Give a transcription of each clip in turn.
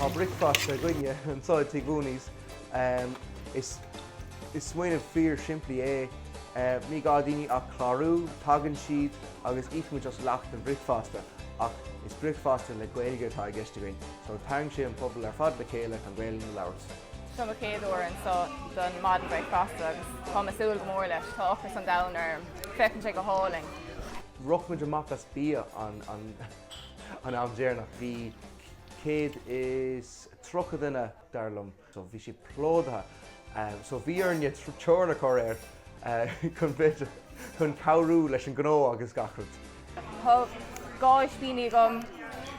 Tá bricfeasta againne anseo i Tigh Mhóiní's. Is smaoineamh fíor simplí é. Ní gá daoine ach clárú, tagann siad agus íocaimid as leath den bricfeasta. Ach is bricfeasta le Gaeilge atá i gceist againn, so tarraingíonn sé an pobal ar fad le chéile chun Gaelainn a labhairt. Seo mo chéad uair anseo don maidin bricfeasta agus táim ag súil go mór leis. Tá ocras an domhain orm. Féachann sé go hálainn. Rith muid amach as bia an am deireanach. Bhí 130 duine dar liom. So bhí sé plódaithe. So bhí orainne teorann a chur air chun bheith, chun cabhrú leis an ngnó agus gach rud. Tá dhá ispíní agam.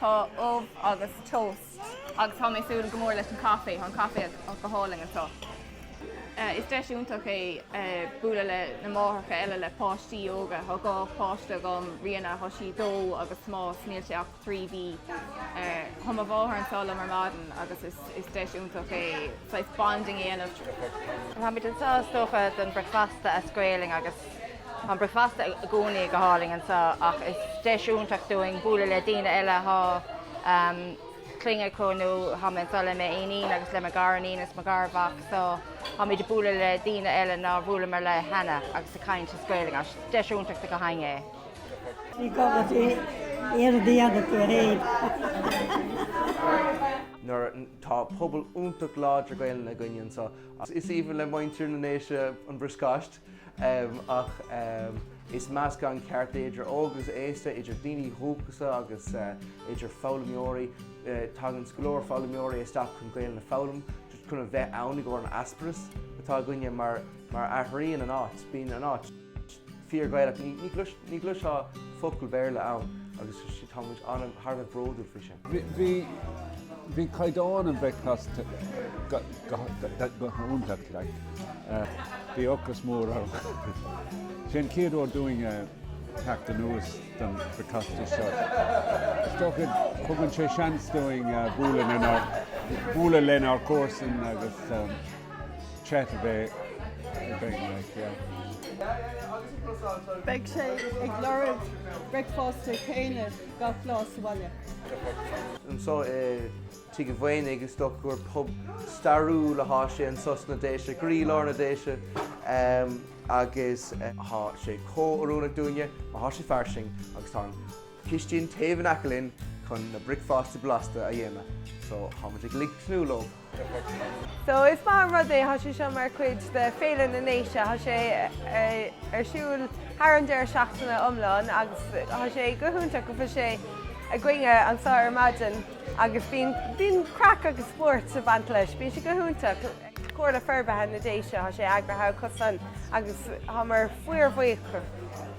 Tá ubh agus toast. agus tá mé ag súil go mór leis an caife, tá an caife go hálainn anseo. Is deis iontach é bualadh leis na máithreacha eile le páistí óga, tá dhá pháiste agam, Ríona, tá sí dó agus Tomás, níl sé ach trí mhí. Tá mo mháthair anseo liom ar maidin agus is deis iontach é saghas bonding a dhéanamh. Táimid anseo is dócha don bricfeasta as Gaolainn agus An bricfeasta i gcónaí go hálainn anseo ach is deis iontach dúinn bualadh le daoine eile thá clainn acu nó thá mé anseo le m'iníon agus le mo ghariníon is mo gharmhac so táimid ag bualadh le daoine eile nár bhuaileamar leo cheana agus ag caint as Gaelainn. Is deis iontach dúinn é. Ní gá duit é a dhéanamh tú féin. nuair tá pobal iontach láidir Gaelainn againn anseo. Is aoibhinn le muintir na nDéise an bricfeást. Ach is meascán ceart é, idir óg agus aosta, idir daoine dúchasacha agus idir foghlaimeoirí. Tagann go leor foghlaimeoirí isteach chun Gaelainn a fhoghlaim just chun a bheith ann i gcomhair an atmaisféar atá againne mar athraíonn an áit, bíonn an áit fíor Ghaelach. Ní chloisfeá focal Béarla ann agus tá muid thar a bheith bródúil faoi sin. Bhí caighdeán an bhricfeasta go hiontach. Bhí ocras mór orm. Sé an chéad uair dúinn teacht anuas don bricfeasta seo. Is dócha tugann sé seans dúinn bualadh lenár gcomharsain agus chat a bheith againn. Beidh sé ag lorg bricfeasta céanna. gach lá sa bhaile. anso i Tigh a' Mhaonaigh. Is dócha gur pub stairiúil athá sé anso sna Déise, i gcroílár na Déise agus athá sé chomh oiriúnach dúinne mar thá sé fairsing agus tá an cistín taobh in aice linn chun na bricfeástaí blasta a dhéanamh so thá muid uilig ag tnúth leo. So is maith an rud é atá sé seo mar chuid de Féile na nDéise. Tá sé ar siúl thar an deireadh seachtaine iomlán agus tá sé go hiontach go bhfuil sé againn anso ar maidin agus bíonn bíonn craic agus spórt ag baint leis. Bíonn sé go hiontach. Comhairle Forbartha na nDéise, tá sé eagraithe acusan agus táimid fíorbhuíoch.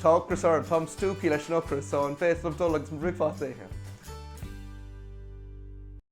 Tá ocras orm. Táim stiúgtha leis an ocras so an bhféadfainn dul agus mo bhricfeasta a ithe?